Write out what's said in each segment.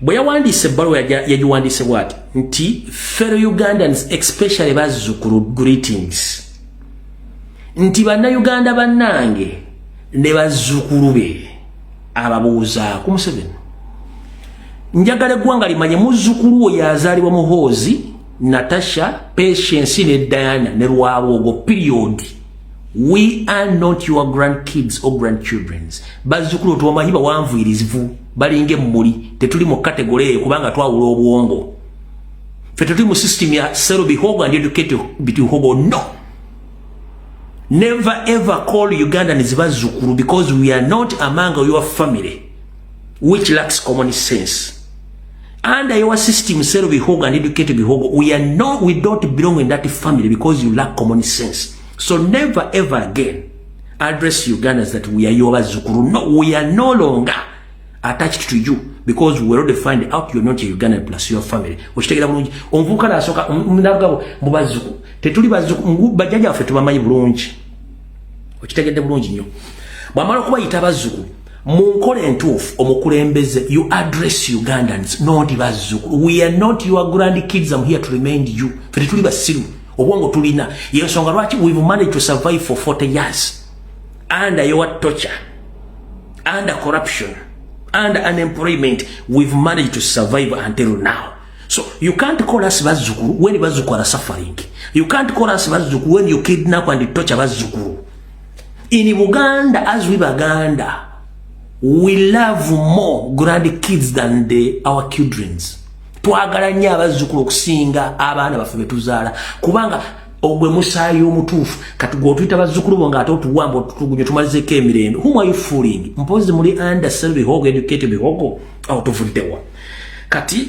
bwe yawandiise ebbaluwa yagiwandiise bwati nti fellow ugandans especially bazzukulu greetings nti bannayuganda bannange ne bazzukulu be ababuuzaako museveni njagala eggwanga limanye muzzukulu oyo azaalibwa muhoozi natasha patience ne diana ne lwabwogo periodi we are not your grandkids or grandchildrens bazukulu tuwamanyi bawanvuirizivu balinga emmuli tetuli mu kategole eyo kubanga twawula obwongo fe tetuli mu system ya sero bihogo and educate bihogo no never ever call ugandans bazukulu because we are not among your family which lacks common sense under your system sero bihogo and educated bihogo we are no we don't belong in that family because you lack common sense so never ever again address ugandans that we are your bazukuru no we are no longer attached to you because we already find out you're not a ugandan plus your family okitegera bulungi omuvubuka nasoka nalugabo mu bazukuru tetuli bazukuru bajjaja waffe tubamanyi bulungi okitegedde bulungi nnyo bwamala okubayita bazukuru mu nkola entuufu omukulembeze you address ugandans not bazzukulu we are not your grand kids am here to remind you fe tetuli basiru obwongo tulina yensonga lwaki we've managed to survive for 40 years under your torture under corruption under unemployment we've managed to survive until now so you can't call us bazzukulu when bazzukulu are suffering you can't call us bazzukulu when you kidnap and torture bazzukulu in Buganda as we Baganda we love more grand kids than the, our children's twagala nnyo abazzukulu okusinga abaana baffe betuzaala kubanga ogwe musaayi omutuufu kati gwe otuyita bazzukulu bo ngaate otuwamba otutugunyo tumalizeko emirembe whom are you fooling mpozi muli under sel bihogo educate bihogo awo tuvuddewa kati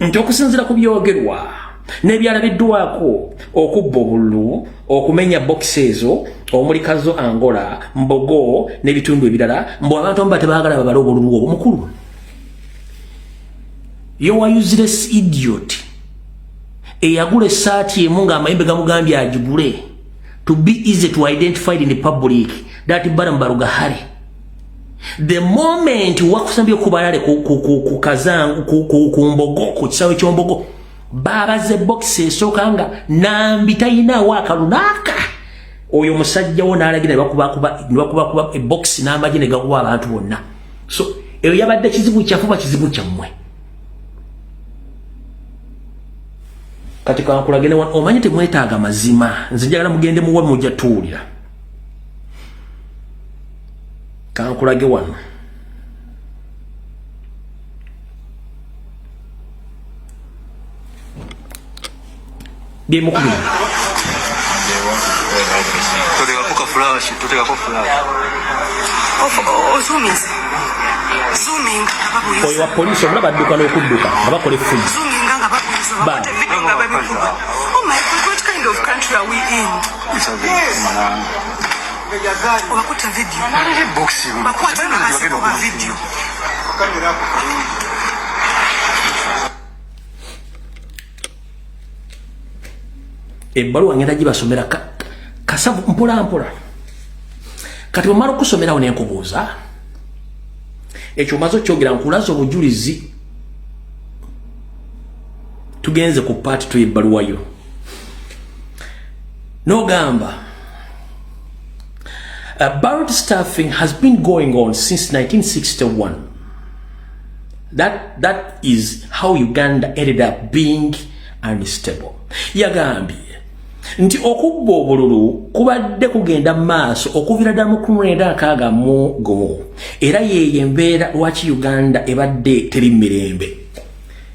nti okusinzira ku byogerwa nebyalabiddwako okubba obululu okumenya bokisi ezo omuli kazo angola mbogo n'ebitundu ebirala mbu abantu amu batebagala babale obululu obwo mukulu yowayuzires idiot eyagula esaati emu ngaamayembe gamugambye agigule to be easy to identify in the public that barambaruga hari the moment wakusambye kubalale ku kazangu ku mbogo ku kisawe kyombogo babaze box esoka nga nambi tayina waka lunaka oyo musajja wona alagira bakuba kuba bakuba kuba e box namba jine gakuba abantu wonna so eyo yabadde kizibu kya fuba kizibu kya mwe kati kwa kulagene wan omanyite mwetaga mazima nzijagala mugende muwe mujja tuulira kankulage wano byemukubiri oyo wa polisi omulaba adduka n'okudduka nga bakola effumu Bye. obakutte vidiyo bakwata nga basika oba vidiyo ebbaluwa ngenda gibasomera kasavu mpolampola kati bwemala okusomerawo nenkubuuza ekyo omaze okyogera nkulaza obujulizi tugenze ku paati tuyebbaluwayo nogamba about staffing has been going on since 1961 that, that is how uganda ended up being unstable yagambye nti okubba obululu kubadde kugenda maaso okuvira dda mu kumwenda akaaga mu gumu era yeeyo embeera lwaki uganda ebadde teri mirembe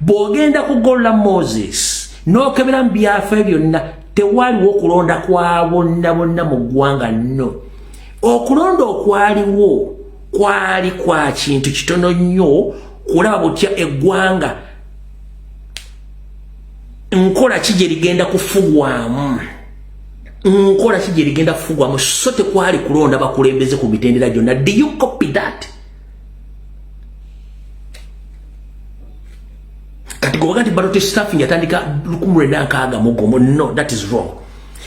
bw'ogenda kugolola moses n'okebera mu byafaayo byonna tewaliwo okulonda kwa bonna bonna mu ggwanga nno okulonda okwaliwo kwali kwa kintu kitono nnyo kulaba butya eggwanga nkola ki gye ligenda kufugwamu nkola ki gye ligenda kufugwamu so tekwali kulonda bakulembeze ku mitendera gyonna do you copy that kati gobaga nti ballot staffing yatandika lukumu lwenda nkaaga mugomo no that is wrong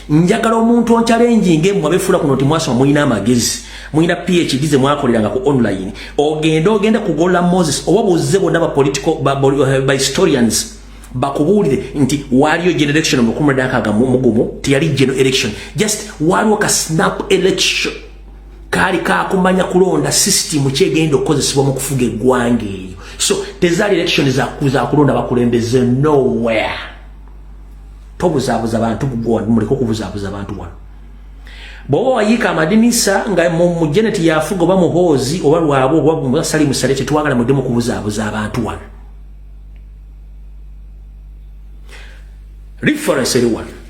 njagala omuntu oncalenjinge mwe abefuula kuno nti mwasoma mulina amagezi mulina phd ze mwakoleranga ku online ogende ogende kugolola moses oba buzze bonna ba political ba, ba, ba, ba historians bakubuulire nti waaliyo generation mu lukumu lwenda nkaaga mugomo teyali geno election just waaliwo ka snap election kaali kakumanya kulonda system kyegenda okukozesebwa mu kufuga eggwanga eyo so tezaali election za kulonda bakulembeze nowhere tobuzaabuza bantu muleke okubuzaabuza abantu wano bwoba wayiika amadinisa nga mu geneti yafuga oba muhoozi oba lwaba oba sali musale tetwagala mudemu kubuzaabuza abantu wano reference eri wano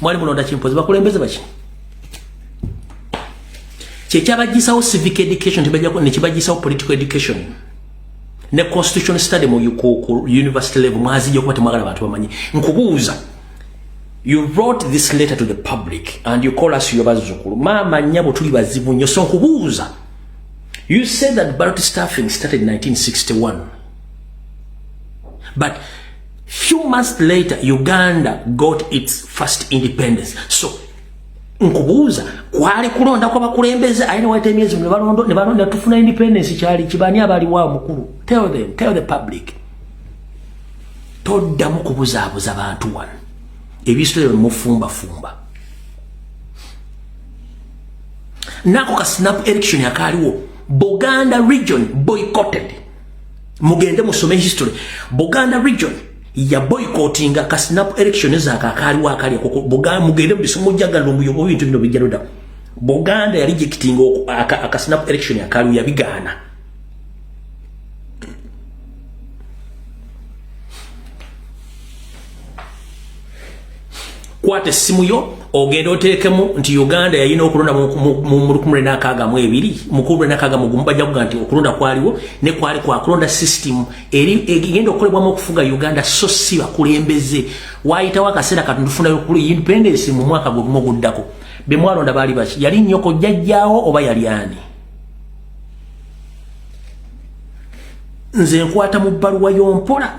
mwali mulonda kimpozi bakulembeze baki kyekyabagisawo civic education nekibagisawo political education ne constitution study mu university level mwazija okuba temwagala bantu bamanyi nkubuuza you wrote this letter to the public and you call us yo bazzukulu maama nyabo tuli bazibu nnyo so nkubuuza you said that ballot staffing started in 1961 but few months later uganda got its first independence so nkubuuza kwali kulonda kwa bakulembeze ayina waita emyezi mu nebalondo nebalonda tufuna independence kyali kibani abali wa mukulu tell them tell the public toddamu kubuzaabuza bantu wano ebisitole bemufumbafumba nako ka snap election akaaliwo buganda region boycotted mugende musome history buganda region ya boycottinga ka snap election za kakali wa kali ko buganda mugende bisomo jaga lumbu yo bintu bino bijaruda buganda ya rejecting aka, aka snap election ya kali ya bigana kwata essimu yo ogenda oteekemu nti uganda yalina okulonda mu lukumule nakaaga mu ebiri mukumule nakaaga mugumu bajja kuga nti okulonda kwaliwo ne kwali kwakulonda system eri egenda okukolebwamu okufuga uganda so si bakulembeze waayitawo akaseera katundu tufunayo okulu independence mu mwaka gwe gumu oguddako be mwalonda baali baki yali nnyoko jjajjaawo oba yali ani nze nkwata mu bbaluwa y'ompola